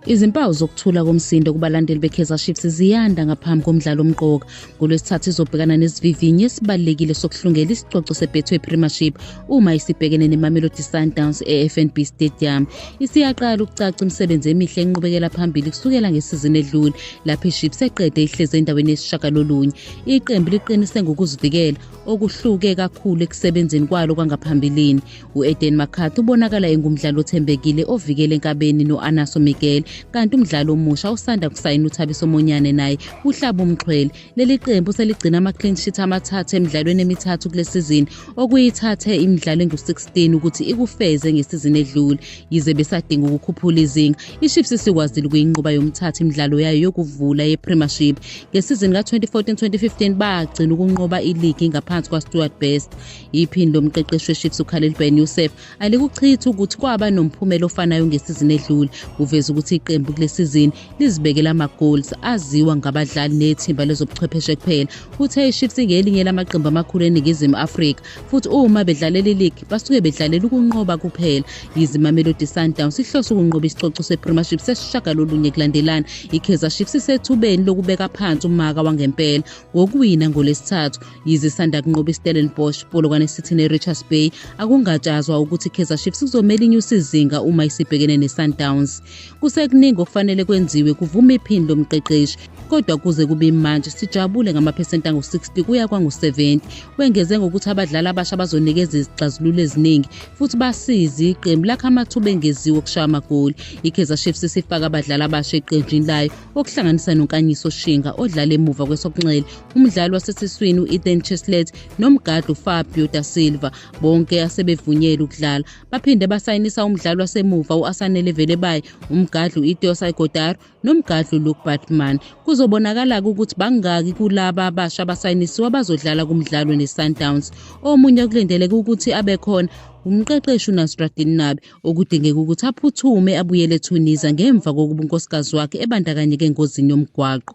Izimpawu zokuthula komsindo kubalandeli beKaizer Chiefs ziyanda ngaphambi komdlalo omqoka. NgoLwesithathu izobhekana nesivivinyo esibalulekile sokuhlungela isicoco seBetway Premiership uma isibhekene neMamelodi Sundowns eFNB Stadium. Isiyaqala ukucaca imisebenzi emihle enqubekela phambili kusukela ngesizini edlule lapho iChiefs eqede ihleze endaweni yesishagalolunye. Iqembu liqinise ngokuzivikela okuhluke kakhulu ekusebenzeni kwalo kwangaphambilini u-eden mccarthy ubonakala engumdlali othembekile ovikele enkabeni no-anaso miguel kanti umdlali omusha usanda kusayina uthabiso monyane naye uhlaba umxhwele leli qembu seligcina ama-clean sheet amathathu emidlalweni emithathu kule sizini okuyithathe imidlalo engu-16 ukuthi ikufeze ngesizini edlule yize besadinga ukukhuphula izinga IChiefs isikwazile ukuyinqoba yomthatha imidlalo yayo yokuvula yePremiership. Ngesizini ka-2014-2015 bagcina ukunqoba iligi ngaphansi kwaStuart Best. Iphini lomqeqeshi weChiefs uKhalil Ben Youssef alikuchithi ukuthi kwaba nomphumela ofanayo ngesizini edlule. Uveze ukuthi iqembu kule sizini lizibekela ama-goals aziwa ngabadlali nethimba lezobuchwepheshe kuphela. Uthe iChiefs ingelinye lamaqembu amakhulu eNingizimu Afrika futhi uma bedlalela iligi basuke bedlalela ukunqoba kuphela yize imamelodi sundowns ihlose ukunqoba isicoco sepremieship sesishagalolunye kulandelana ikaizer chiefs isethubeni lokubeka phansi umaka wangempela ngokuwina ngolesithathu yize isanda kunqoba istellenbosch polokwane city nerichards bay akungatshazwa ukuthi ikaizer chiefs kuzomele inyuse izinga uma isibhekene nesundowns Kusekuningi okufanele kwenziwe, kuvuma iphini lomqeqeshi. Kodwa kuze kube imanje sijabule ngamaphesenti angu-60 kuya kwangu-70. Wengeze ngokuthi abadlali abasha bazonikeza izixazululo eziningi futhi basize iqembu lakha amathuba engeziwe okushaya amagoli. IKaizer Chiefs isifaka abadlali abasha eqenjini layo okuhlanganisa noNkanyiso Shinga odlala emuva kwesokunxele, umdlali wasesiswini u-Ethan Cheslet nomgadli uFabio da Silva bonke asebevunyelwe ukudlala. Baphinde basayinisa umdlali wasemuva u-Asanele Velebayi, umgadli u-Iteo Saigodaro nomgadli uLuke Batman. Kuzobonakala-ke ukuthi bangaki kulaba abasha abasayinisiwe abazodlala kumdlalo neSundowns. Omunye okulindeleke ukuthi abe khona umqeqeshi uNasruddin Nabi okudingeka ukuthi aphuthume abuyele eTunisia ngemva kokuba unkosikazi wakhe ebandakanyeke engozini yomgwaqo.